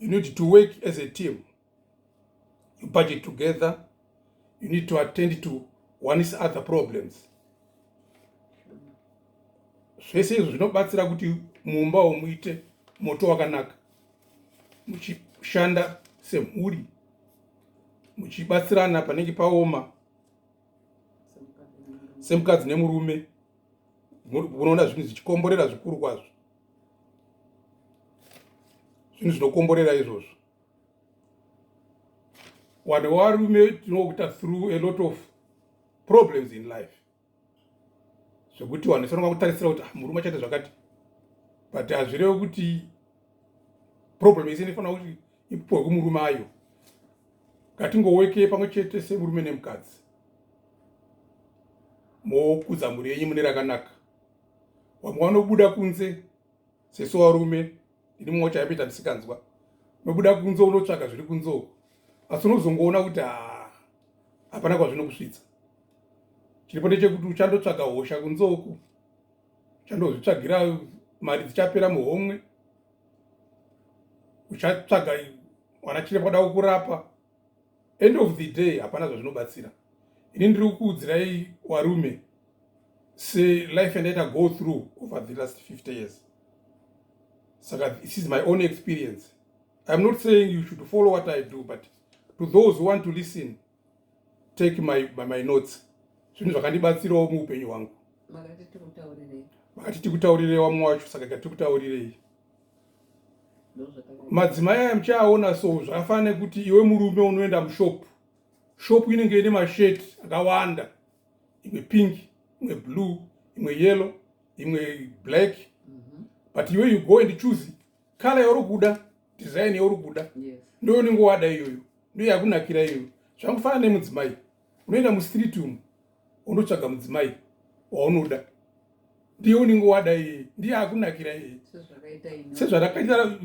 you need to work as a team you budget together you need to attend to one's other problems zvese izvo zvinobatsira kuti mumba womuite moto wakanaka muchishanda semhuri muchibatsirana panenge paoma semukadzi nemurume unoona zvinhu zvichikomborera zvikuru kwazvo zvinhu zvinokomborera izvozvo vanhu varume tinokuita through a lot of problems in life zvekuti vanhu vanofanira kutarisira kuti ah, murume achaita zvakati but hazvirevi kuti problem yese inofanira kuti ipuwe kumurume ayo ngatingoweke pamwe chete semurume nemukadzi mokudza mhuri yenyu mune rakanaka vamwe vanobuda kunze sesu varume ini mumwe wacho aipeta ndisikanzwa unobuda kunze unotsvaga zviri kunze uku asi unozongoona kuti haa hapana kwazvinokusvitsa chiripo ndechekuti uchandotsvaga hosha kunze uku uchandozvitsvagira mari dzichapera muhomwe uchatsvaga mwana chiremba da kukurapa end of the day hapana zvazvinobatsira ini ndiri kukuudzirai warume selife andaita go through over the last 50 years saka this is my own experience iam not saying you should follow what i do but to those who want to listen take my, my, my notes zvinhu zvakandibatsirawo muupenyu hwangu makati tikutaurirei wamwe wacho saka ka tikutaurirei madzimai aya muchaaona so zvakafana nekuti iwe murume unoenda mushop shop inenge ine mashet akawanda imwe pink imwe blue imwe yellow imwe black mhm. but iwe you go and choose kala yauri kuda design yauri kuda ndoyo unenge wada iyoyo ndiyo yakunakira iyo zvakufana nemudzimai unoenda mustreet umu unotsvaga mudzimai waunoda ndiye unenge wada iye ndiye akunakira iye sezvarakaita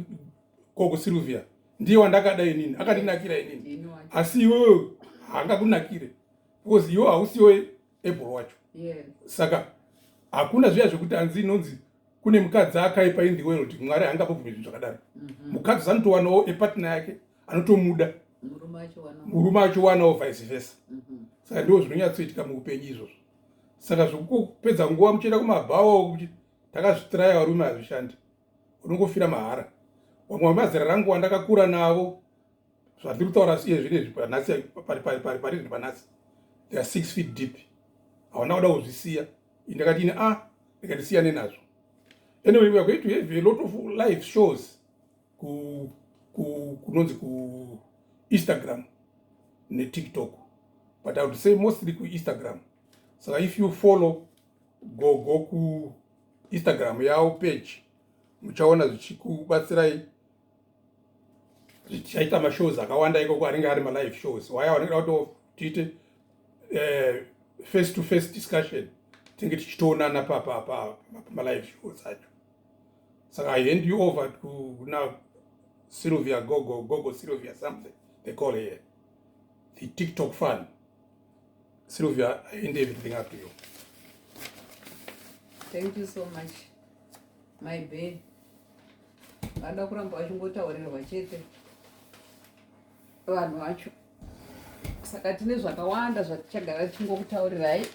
koko silvia ndiye wandakada inini akandinakira inini asi iwewe haangakunakire because iwe hausiwe ebro wacho saka hakuna zviya zvekuti hanzi inonzi kune mukadzi akaipa in the world mwari angapobvume zvinhu zvakadaro mhm. mukadzi anotowanawo epartner yake anotomuda murume achowanawo vice versa mhm. saka ndiwo zvinonyatsoitika muupenyu izvozvo saka zvekupedza nguva muchienda kumabhawa kuti takazvitiraya varume hazvishandi unongofira mahara vamwe vemazera rangu wandakakura navo zvandiri kutaura siye zvinezvi panhasi pari zvi panhasi they are six feet deep hauna kuda kuzvisiya indakati ini a ah, ndikandisiyane nazvo anyway weare going to have a lot of live shows kunonzi ku, ku instagram netiktok but i would say mostly kuinstagram saka if you follow go go kuinstagram yavo page muchaona zvichikubatsirai tichaita mashows akawanda ikoko anenge ari malive shows waya wanenge kuti tiite eh, face to face discussion tinge tichitoonana papapa malive shows acho saka i hand you over to now sylvia gogo gogo sylvia something they call here the tiktok fun Sylvia, I end everything up to you. Thank you so much. My babe. Vanoda kuramba vachingotaurirwa chete vanhu vacho. Saka tine zvakawanda zvatichagara tichingokutaurirai.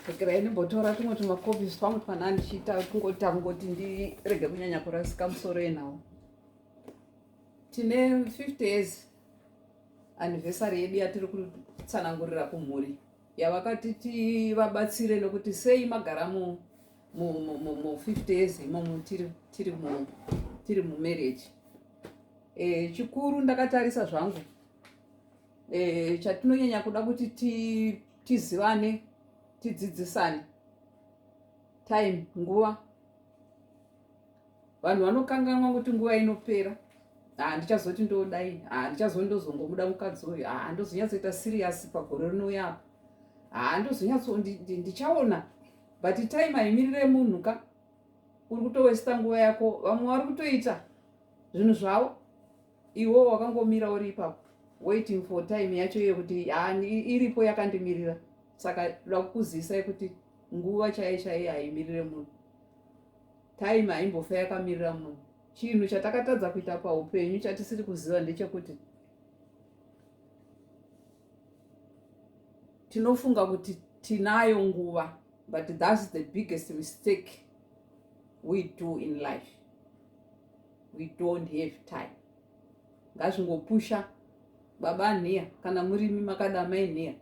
Regerai ndimbotora tumwe tumakopi twangu twana ndichiita kungota kungoti ndirege kunyanya kurasika musoro enawo. Tine 50 years anniversary yedu yatiri kutsanangurira kumhuri yavakati tivabatsire nokuti sei magara mu mu 50 years imomo tiri tiri mu tiri mu marriage eh chikuru ndakatarisa zvangu eh chatinonyanya kuda kuti ti tizivane tidzidzisane time nguva vanhu vanokanganwa kuti nguva inopera ah, ndichazoti ndodai ah, ndichazoti ndozongomuda mukadzi uyu ah, ndozonyatsoita siriyasi pagore rinouya apa haa ndozonyatso ndichaona but time haimirire munhu ka uri kutowesta nguva yako vamwe vari kutoita zvinhu zvavo iwo wakangomira uri ipapo waiting for time yacho iye kuti iripo yakandimirira saka da kukuzisai kuti nguva chaiye chaiye haimirire munhu time haimbofa yakamirira munhu chinhu chatakatadza kuita paupenyu chatisiri kuziva ndechekuti tinofunga kuti tinayo nguva but thats the biggest mistake we do in life we don't have time ngazvingopusha baba nhiya kana murimi makada mai nhiya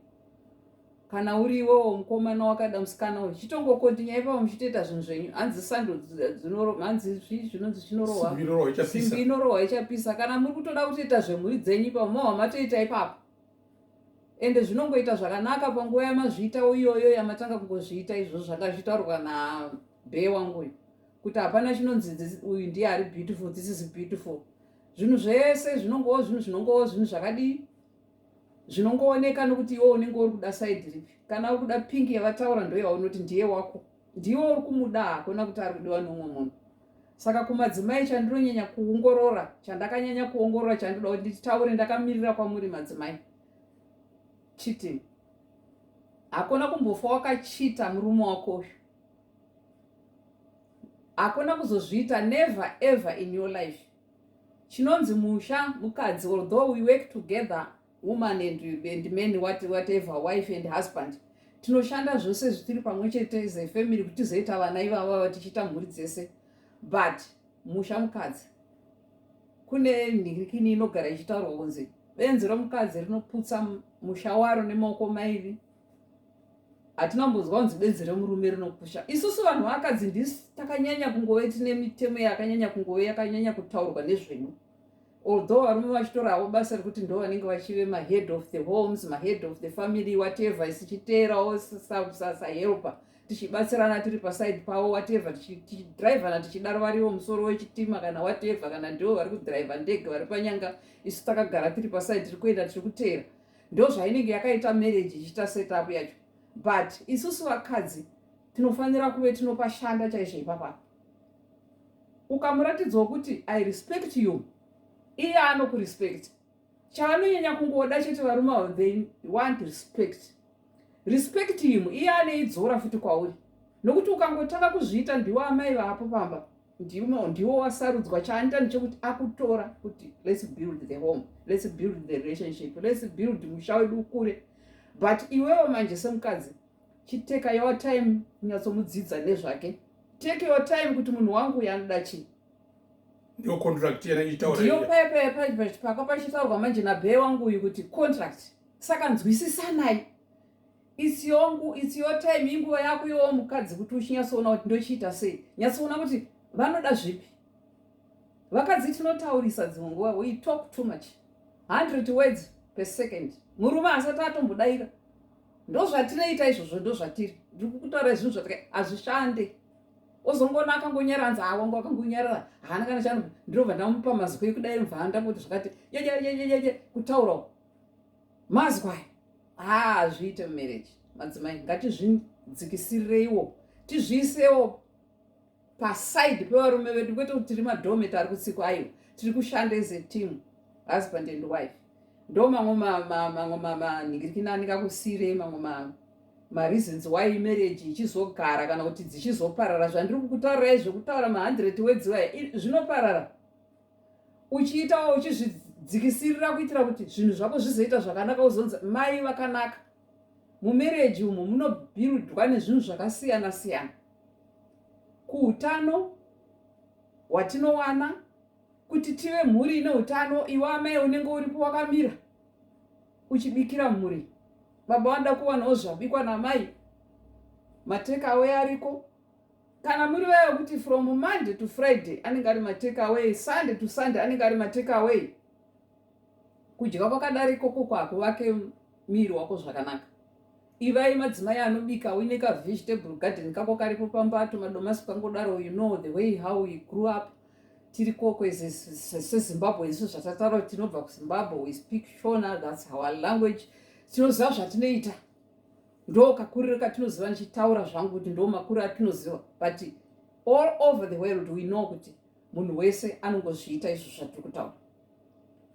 kana uri iwewo mukomana wakada musikana uyu chitongokontinya ipapo muchitoita zvinhu zvenyu hanzi sando dzinorohwa hanzi zvii zvinonzi zvinorohwa simbi inorohwa ichapisa kana muri kutoda kutoita zvemhuri dzenyu ipapo mohwa matoita ipapo ende zvinongoita zvakanaka panguva yamazviitawo iyoyo yamatanga kungozviita izvo zvanga zvitaurwa nabhee wangu uyu kuti hapana chinonzi uyu ndiye ari beautiful this is beautiful zvinhu zvese zvinongowo zvinhu zvinongowo zvinhu zvakadii zvinongooneka nokuti iwe unenge uri kuda saidi ripi kana uri kuda pingi yavataura ndoyaunoti ndiye wako ndiwe uri kumuda hakuna kuti ari kudiwa nomwe munhu saka kumadzimai chandinonyanya kuongorora chandakanyanya kuongorora chandinoda kuti nditaure ndakamirira kwamuri madzimai cheating hakuna kumbofa wakachita murume wako uyu hakuna kuzozviita never ever in your life chinonzi musha mukadzi although we work together woman and, and man what, whatever wife and husband tinoshanda zvose zvitiri pamwe chete as a family kuti tizoita vana ivavava tichiita mhuri dzese but musha mukadzi kune nhirikini inogara ichitaurwa kunzi benzi romukadzi rinoputsa musha waro nemaoko mairi hatina kumbonzwa kunzi benzi remurume rinopusha isusu vanhu vakadzi ndisi takanyanya kungove tine mitemo yakanyanya kungove yakanyanya kutaurwa nezvenyu although varume vachitoravo basa rekuti ndo vanenge vachive mahead of the homes mahead of the family whatever isichiteerawo sahelper tichibatsirana tiri paside pavo whatever tichidrivana tichidaro variwo musoro wechitima kana whatever kana ndivo vari kudriver ndege vari panyanga isu takagara tiri paside tiri kuenda tiri kuteera ndozvainenge yakaita marriage ichiita setup yacho but isusu vakadzi tinofanira kuve tinopashanda chaizvo ipapa ukamuratidzwa kuti i respect you iye anokurespect chaanonyanya kungoda chete varume avo they want respect respect him iye aneidzora futi kwauri nokuti ukangotanga kuzviita ndiwo amai vapo pamba ndimo ndiwo wasarudzwa chaanita ndechekuti akutora kuti let's build the home let's build the relationship let's build musha wedu ukure but iwewo manje semukadzi chiteka your time kunyatsomudzidza nezvake take your time kuti munhu wangu uyo anoda chii ndiyo contract yena ichitaura ndiyo payapayapayapaka pachitaurwa manje nabhee wangu uyu kuti contract saka nzwisisanai it's your, it's your time inguva yako yowo mukadzi kuti uchinyatsoona kuti ndochiita sei nyatsoona kuti vanoda zvipi vakadzi tinotaurisa dzimwe nguva we talk too much 100 words per second murume asati atombodaira ndozvatinoita izvozvo ndozvatiri ndiri kutaura zvinhu zvatika hazvishande ozongoona akangonyaranza awo ngo akangonyarara haana kana chano ndinobva ndamupa maziko ekudaira mvanda kuti zvakati yeyeyeyeye kutaurawo mazwa haa hazviite mumarriage madzimai ngatizvidzikisireiwo tizviisewo paside pevarume vedu kwete kuti tiri madometa ari kutsiko ayo tiri kushanda as a team husband and wife ndo mamwe mamwe manhingirikinani kakusirei mamwe mamwe mareasons why marriage ichizogara kana kuti dzichizoparara zvandiri kukutaurirai zvekutaura ma100 wedziwaya zvinoparara uchiitawo uchizvidzikisirira kuitira kuti zvinhu zvako zvizoita zvakanaka uzonzi mai vakanaka mumereji umo munobhirudwa nezvinhu zvakasiyana siyana kuutano hwatinowana kuti tive mhuri ine utano iwe amai unenge uripo wakamira uchibikira mhuri baba vanoda kuwanawo zvabikwa namai matekawe ariko kana muri vaya vekuti from monday to friday anenge ari matake away sunday to sunday anenge ari matake away kudya kwakadari ikoko kwakuvake miri wako zvakanaka ivai madzimai anobika uine kavegetable garden kako karipo pambato madomasi kangodaro you know the way how we grew up tiri koko sezimbabwe isu zvatataro tinobva kuzimbabwe we speak shona thats our language tinoziva zvatinoita ndo kakuriro katinoziva ndichitaura zvangu kuti ndo makuriro atinoziva but all over the world we know kuti munhu wese anongozviita izvo zvatiri kutaura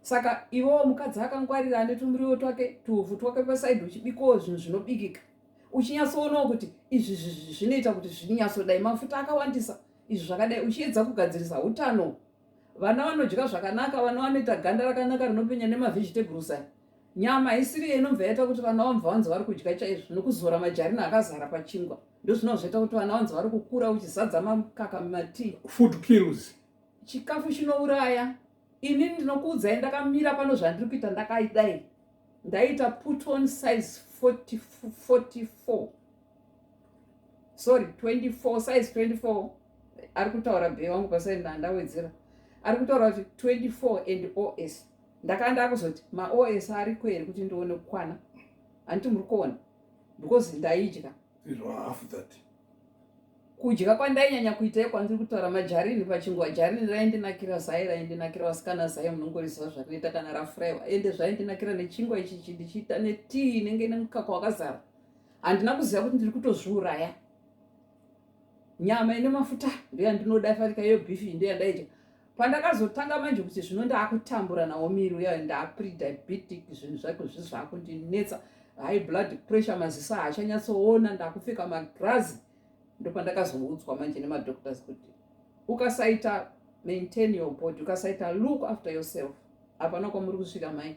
saka iwewo mukadzi akangwarira ane tumuriwo twake tuuvhu twake pasaidi uchibikawo zvinhu zvinobikika uchinyatsoonawo kuti izvi zvinoita kuti zvinyatsodai mafuta akawandisa izvi zvakadai uchiedza kugadzirisa utano vana vanodya zvakanaka vana vanoita ganda rakanaka rinopenya nemavegetables aya Nyama haisiri iyo inobva yaita kuti vana vamva vanzi vari kudya chaizvo nokuzora majarina akazara pachingwa ndozvinova zvaita kuti vana vanzi vari kukura uchizadza makaka mumatii food kills chikafu chinouraya ini ndinokuudzai ndakamira pano zvandiri kuita ndakaidai ndaita put on size 44 sorry 24 size 24 ari kutaura bhe wangu pasainda ndawedzera ari kutaura kuti 24 and os ndakanga ndakuzoti maos ariko here kuti ndione kukwana handiti muri kuona because ndaidya kudya kwandainyanya kuita kwanziri kutaura majarini pachingwa jarini raindinakira zai raindinakira vasikana zai munongoriziva zvarinoita kana rafuraiwa ende zvaindinakira nechingwa ichichi ndichiita netii inenge ine mukaka wakazara handina kuziva kuti ndiri kutozviuraya nyama ine mafuta ndoyandinoda farika iyo beef iyi ndoyandaidya pandakazotanga manje kuti zvino ndaakutambura nawo miri uya ndaprediabetic zvinhu zvake zvi zvakundinetsa high blood pressure maziso haachanyatsoona ndakupfeka magrazi ndopandakazoudzwa manje nemadoctors kuti ukasaita maintain your body ukasaita look after yourself hapana kwamuri kusvika mai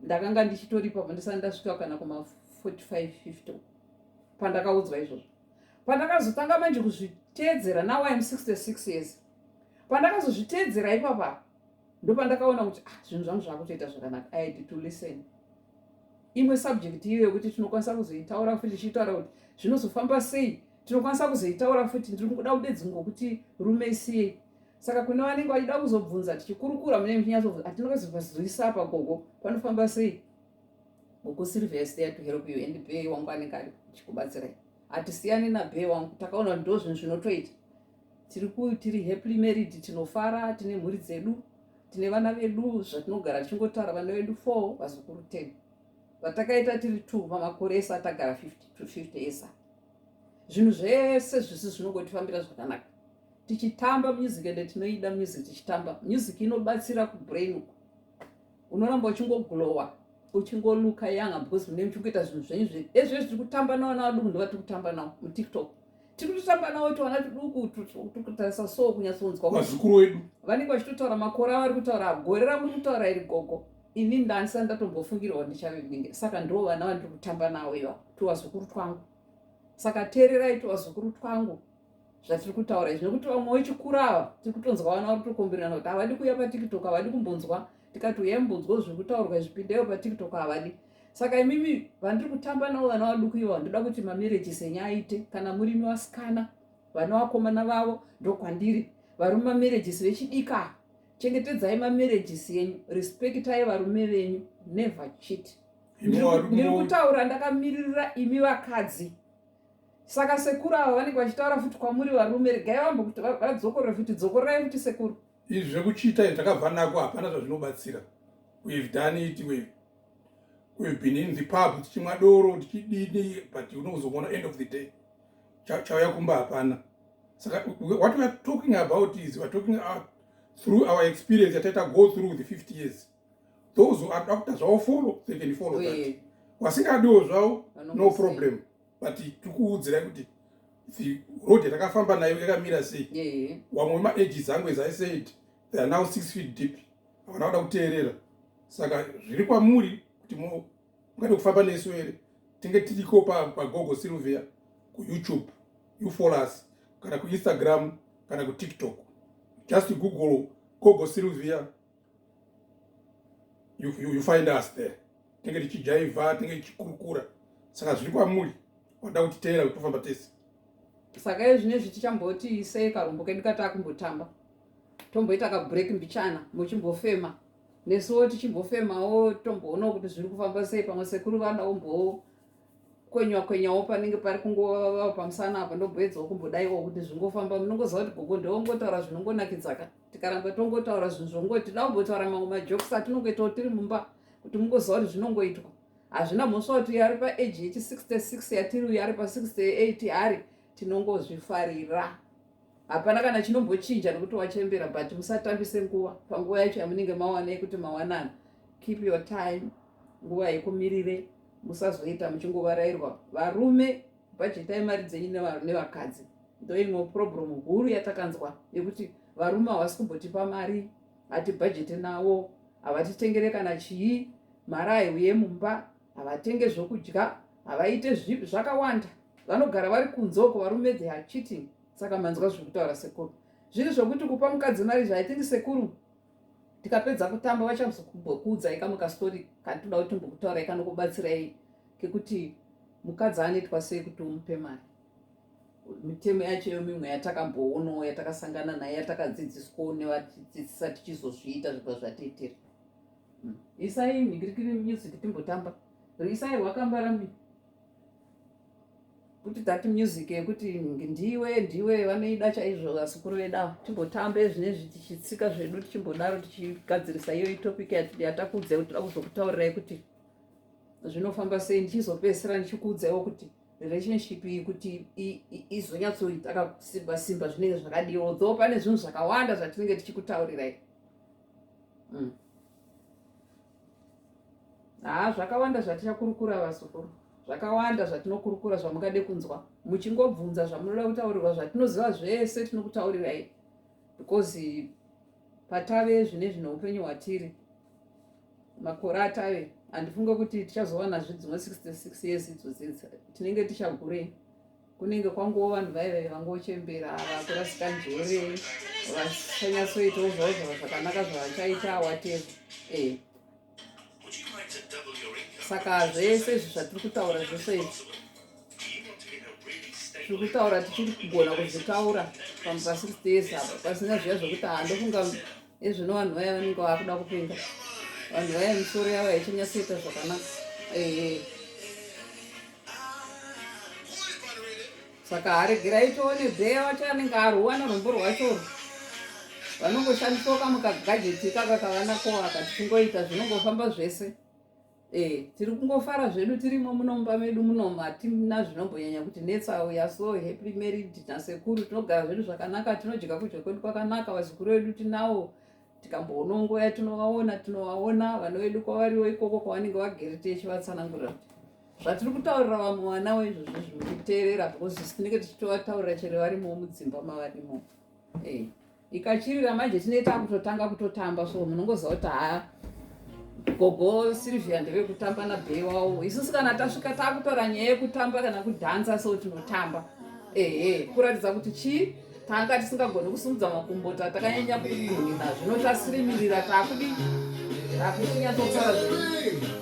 ndakanga ndichitoripa pandisati ndasvika kana kuma 45 50 pandakaudzwa izvozvo pandakazotanga manje kuzviteedzera now iam 66 years pandakazozviteedzera ipapa ndopandakaona kuti ah, zvinhu zvangu zvakutoita zvakanaka i had to listen imwe subject iyo yekuti tinokwanisa kuzoitaura futi tichitaura kuti zvinozofamba sei tinokwanisa kuzoitaura futi ndiri kuda kudedzi ngokuti rume isiyei saka kune vanenge vachida kuzobvunza tichikurukura mune mchinyatsoo hatinokazovazwisapa gogo panofamba sei Gogo Sylvia is there to help you and Bee wangu anenge ari chikubatsirai. Hatisiyani na Bee wangu takaona ndo zvinhu zvinotoita. Tiri ku tiri happily married tinofara tine mhuri dzedu tine vana vedu zvatinogara tichingotara vana vedu 4 vazukuru 10. Vatakaita tiri 2 pamakore esa tagara 50 to 50 esa. Zvinhu zvese zvisi zvinongotifambira zvakanaka. Tichitamba music and tinoida music tichitamba. Music inobatsira ku brain uku. unoramba uchingoglowa uchingoluka yanga because mune muchikuita zvinhu zvenyu zve ezvo zviri kutamba nawo na vaduku ndovati kutamba nawo mutiktok tiri kutotamba nawo tiwana tuduku tikutarisa so kunyatsonzwa vazukuru wedu vanenge vachitotaura makore avari kutaura gore ramuri kutaura iri gogo ini ndanisani ndatombofungirwa ndichavinenge saka ndivo vana vandiri kutamba nawo iva tovazukuru twangu saka teererai tovazukuru twangu zvatiri kutaura izvi nekuti vamwe vechikura ava tiri kutonzwa vana vari kutokombererana kuti havadi kuuya patiktok havadi kumbonzwa tikati uyai mbonzwa zviri kutaurwa izvipindeyo patiktok havadi saka imimi vandiri kutamba navo vana vaduku ivo vandoda kuti mamereji senya aite kana murimi vasikana vana vakomana vavo ndokwandiri varume mamereji sevechidika chengetedzai mamarriages enyu respectai varume venyu never chit ndiri kutaura ndakamiririra imi vakadzi saka sekuru ava vanenge vachitaura futi kwamuri varume regai vambo kuti vadzokorore futi dzokorerai futi sekuru izvi zvekuchiita izvi takabva nako hapana zvazvinobatsira we've done it we've, we've been in the pub tichimwa doro tichidini but unozoona end of the day chauya kumba hapana saka what weare talking about is weare talking out through our experience yataita go through the 50 years those who are doctor zvavo follow they can follow oh, that yeah. wasingadiwo zvavo no problem but tikuudzirai kuti the road yatakafamba nayo yakamira sei yeah. wamwe maages angu as i said they are now six feet deep havana kuda kuteerera saka zviri kwamuri kuti mungade kufamba nesu here tinge tiriko pagogo silvia kuyoutube you follow us kana kuinstagram kana kutiktok just google gogo silvia you, you, you find us there tinenge tichijaivha tinenge tichikurukura saka zviri kwamuri wada kutiteera kuti tofamba tese saka izvi nezvi tichamboti sei karombo kedu kataa kumbotamba tomboita kabreak mbichana muchimbofema nesuwo tichimbofemawo tomboonawo kuti zviri kufamba sei pamwe sekuru vana ombowo kwenywa kwenyawo panenge pari kungova pamusana apa ndoboedzawo kumbodaiwa kuti zvingofamba munongoziva kuti gogo ndewongotaura zvinongonakidzaka tikaramba tongotaura zvinhu zvongo tida kumbotaura mamwe majokes atinongoitawo tiri mumba kuti mungoziva kuti zvinongoitwa hazvina mhosva kuti uyo ari paage yechi 66 yatiri uyo ari pa 68 ari tinongozvifarira hapana kana chinombochinja nekuti wachembera but musatambise nguva panguva yacho yamunenge mawana yekuti mawanana keep your time nguva yekumirire musazoita muchingovarairwa varume bhajetai mari dzenyu nevakadzi ndoimwe problem huru yatakanzwa yekuti varume havasi kumbotipa mari hatibhajete navo havatitengere kana chii mari haiuye mumba havatenge zvokudya havaite zvipi zvakawanda vanogara vari kunze uko varume they are cheating saka manzwa zviri kutaura sekuru zviri zvokuti kupa mukadzi mari zvaithingi sekuru tikapedza kutamba vachazokuudzai kamwe kastori katoda kuti tombokutaurai kanokubatsirai kekuti mukadzi anoitwa sei kuti umupe mari mitemo yacho iyo mimwe yatakamboonawo yatakasangana nayo yatakadzidziswawo nevadzidzisa tichizozviita zvibva zvatiitira hmm. isai mhingirikiri music timbotamba isai rwakambara mi kuti that music yekuti ndiwe ndiwe vanoida chaizvo vasukuru vedawo timbotambe zvine zvichitsika zvedu tichimbodaro tichigadzirisa iyo itopic yatakuudza kuti tira kuzokutaurirai kuti zvinofamba sei ndichizopedzisira ndichikuudzaiwo kuti relationship iyi kuti izonyatsoita kakusimba simba zvinenge zvakadii although pane zvinhu zvakawanda zvatinenge tichikutaurirai mm. haa zvakawanda zvatichakurukura vasukuru zvakawanda zvatinokurukura zvamungade kunzwa muchingobvunza zvamunoda kutaurirwa zvatinoziva zvese tinokutaurirai because patave zvine zvine upenyu hwatiri makore atave handifunge kuti tichazowana zve dzimwe 66 years idzo dzinzi tinenge tichagurei kunenge kwangowo vanhu vaive vangochembera vakurasika njere vachanyatsoitawo zvavo zvava zvakanaka zvavachaita awateva e eh. saka zvese izvi zvatiri kutaura zvese izvi tiri kutaura tichiri kugona kuzvitaura pamupasiri tese apa pasina zviya zvekuti handofunga ezvino vanhu vaya vanenge vakuda kupenga vanhu vaya misoro yavo yaichanyatsoita zvakanaka eh. saka aregera itoone bheya wacho anenge aruwana rombo rwacho vanongoshandiswa kamukagajeti ikaka kavanako aka tichingoita zvinongofamba zvese Eh, tiri kungofara zvedu tirimo munomba medu munomu hatina zvinombonyanya kuti netsa uya so happy married nasekuru tinogara zvedu zvakanaka tinodya kudya kwedu kwakanaka vazukuru vedu tinawo tikamboona nguva yatinovaona tinovaona vana vedu kwavariwo ikoko kwavanenge vagere techivatsanangurira kuti zvatiri kutaurira vamwe vana waizvozvo zviri kuteerera because tinenge tichitovataurira chero varimo mudzimba mavarimo eh. ikachirira manje tinee takutotanga kutotamba so munongoziva kuti haa gogo silvia ndeve kutamba nabhei wawo isusu kana tasvika takutora nyaya yekutamba kana kudhansa so tinotamba ehe kuratidza kuti chii tanga tisingagoni kusumudza makumbo tatakanyanya kugunina zvino tasirimirira takudi takuchinyatsotsara zve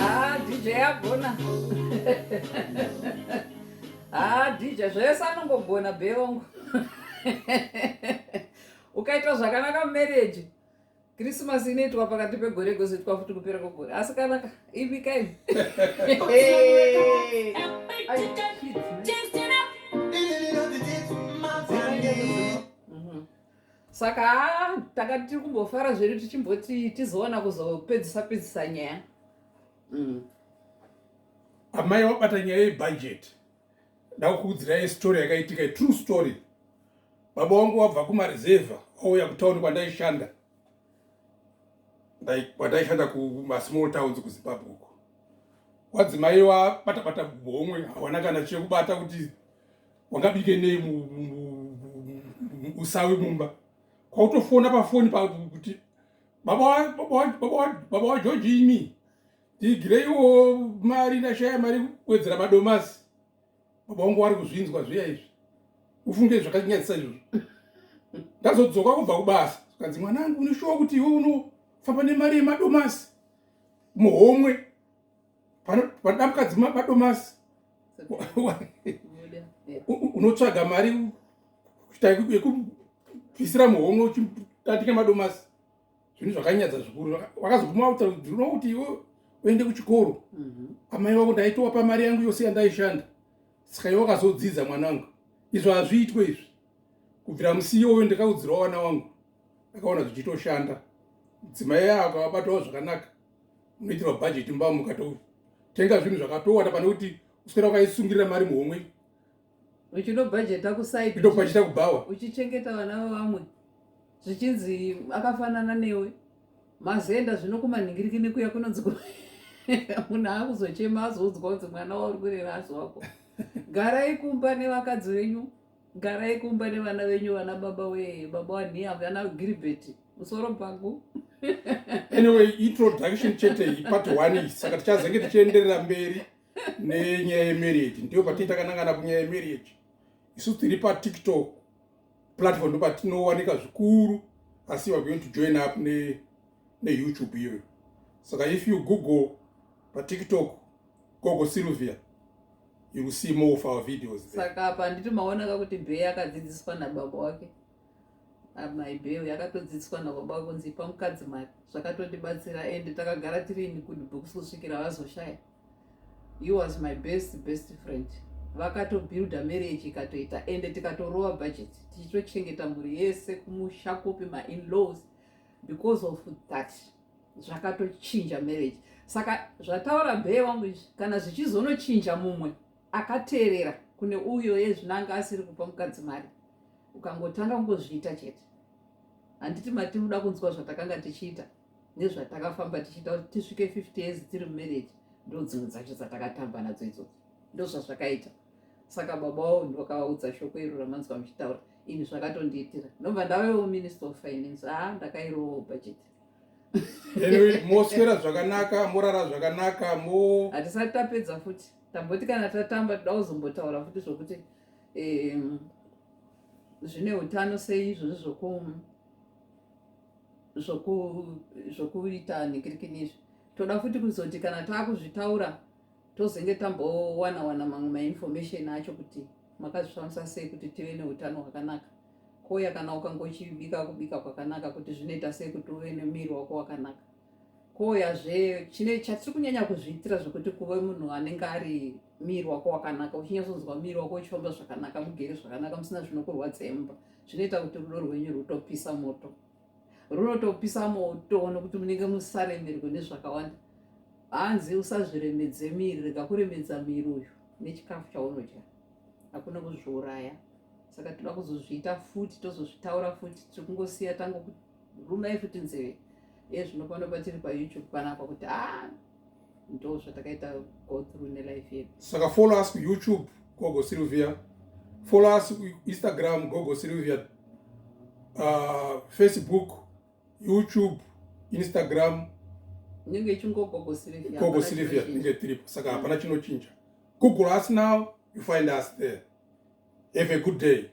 Ah, DJ agona. Ah, DJ zvese anongogona bevongo. Ukaita zvakanaka mumarriage. kirisimasi inoitwa pakati pegore igozoitwa futi kupera kwegore asi kanaka ibikaini mhm. saka tanga tiri kumbofara zvedu tichimboti tizoona kuzopedzisa pedzisa nyaya mm. amai wabata nyaya yebhajeti ndakukuudzirai story yakaitika true story baba wangu wabva kumarezevha wauya kutauni kwandaishanda kwandaishanda kumasmall towns kuzimbabwe uko wadzimai wabatabata homwe hawana kana chekubata kuti wangabike nei usawi mumba kwautofona pafoni kuti baba wajoji imi ndiigireiwo mari ndashaya mari kuwedzera madomasi baba wangu wari kuzvinzwa zviya izvi ufunge zvakanyadzisa izvozvo ndazodzoka kubva kubasa kanzi mwana angu unoshuwa kuti iwe unofamba nemari yemadomasi muhomwe panoda mukadzi madomasi unotsvaga mari kuita yekubvisira muhomwe uchitatike madomasi zvinhu zvakanyadza zvikuru vakazoguma kuti ndinoda kuti iwe uende kuchikoro mhm. amai vako ndaitowa pamari yangu yose yandaishanda saka iwe wakazodzidza mwana wangu izvo hazviitwe izvi kubvira musi iyoyo ndakaudzirawo vana wangu akaona zvichitoshanda mudzimai ako abatawo zvakanaka unoitirwa bhajeti mbamuka totenga zvinhu zvakatowanda pane kuti uswera wakaisungirira mari muhomwe uchinobhajeta kuside uchinobhajeta kubhawa uchichengeta vana vevamwe zvichinzi akafanana newe mazenda zvino kumanhingiriki nekuya kunonzi munhu akuzochema azoudzwa kunzi mwana wauri kurera asi wako garai kumba nevakadzi venyu garai kumba nevana venyu vana baba wee baba waniya vana gilbert musoro pangu anyway introduction chete iyi part one saka tichazenge tichienderera mberi nenyaya yemarriage ndiyo patii takanangana kunyaya yemarriage isu tiri patiktok platform ndo patinowanika zvikuru asi weare going to join up neyoutube ne iyoyo saka if you google patiktok gogo sylvia you will see more of our videos saka apa handiti maonaka kuti bhee akadzidziswa nababa wake ah, my bhee yakatodzidziswa nababa wake kunzi ipa mukadzi mari zvakatotibatsira ende takagara tiri in good books kusvikira vazoshaya he was my best best friend vakatobuilda marriage ikatoita ende tikatorova budget tichitochengeta mhuri yese kumusha kupi mainlaws because of that zvakatochinja marriage saka zvataura bhee wangu izvi kana zvichizonochinja mumwe akateerera kune uyo yezvinanga asiri kupa mukadzi mari ukangotanga kungozviita chete handiti matinoda kunzwa zvatakanga tichiita ndezvatakafamba tichiita kuti tisvike 50 years tiri mumarriage ndo dzimwe dzacho dzatakatamba nadzo idzodzo ndo zvazvakaita saka baba wavo ndokavaudza shoko iro ramanzwa muchitaura ini zvakatondiitira ndomva ndavewo minister of finance haa ah, ndakairowo budget anyway moswera zvakanaka morara zvakanaka mo hatisati tapedza futi tamboti kana tatamba toda kuzombotaura futi zvokuti zvine utano sei izvozvi zvokumu zvokuita nikirikini izvi toda futi kuzoti kana taakuzvitaura tozenge tambowana wana mamwe mainformation acho kuti makazvifambisa sei kuti tive neutano hwakanaka koya kana ukangochibika kubika kwakanaka kuti zvinoita sei kuti uve nemiri wako wakanaka koya zve chine chatiri kunyanya kuzviitira zvekuti kuve munhu anenge ari miri wako wakanaka uchinyatsonzwa miri wako uchifamba zvakanaka mugere zvakanaka musina zvinokurwadza emumba zvinoita kuti rudo rwenyu rwutopisa moto runotopisa moto nokuti munenge musaremerwe nezvakawanda hanzi usazviremedze miri rega kuremedza miri uyu nechikafu chaunodya hakuna kuzviuraya saka toda kuzozviita futi tozozvitaura futi tiri kungosiya tangokurumai futi nzeve ezvinopano patiri payoutube panapa kuti a ah, ndo zvatakaita go through nelife yedu saka follow us kuyoutube gogo sylvia follow us kuinstagram gogo sylvia uh, facebook youtube instagram inenge ichingogogo sylvia gogo sylvia inenge tiripo saka hapana mm. chinochinja google us now you find us there have a good day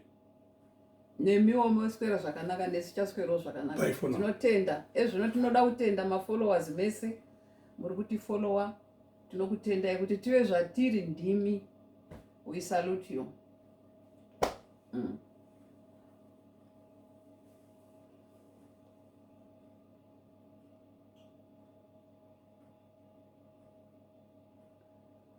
nemiwo moswera zvakanaka nesu tichaswerawo zvakanaka Bye for now. tinotenda ezvino tinoda kutenda mafollowers mese muri kutifollowa tinokutendai kuti tive zvatiri ndimi we salute you mm.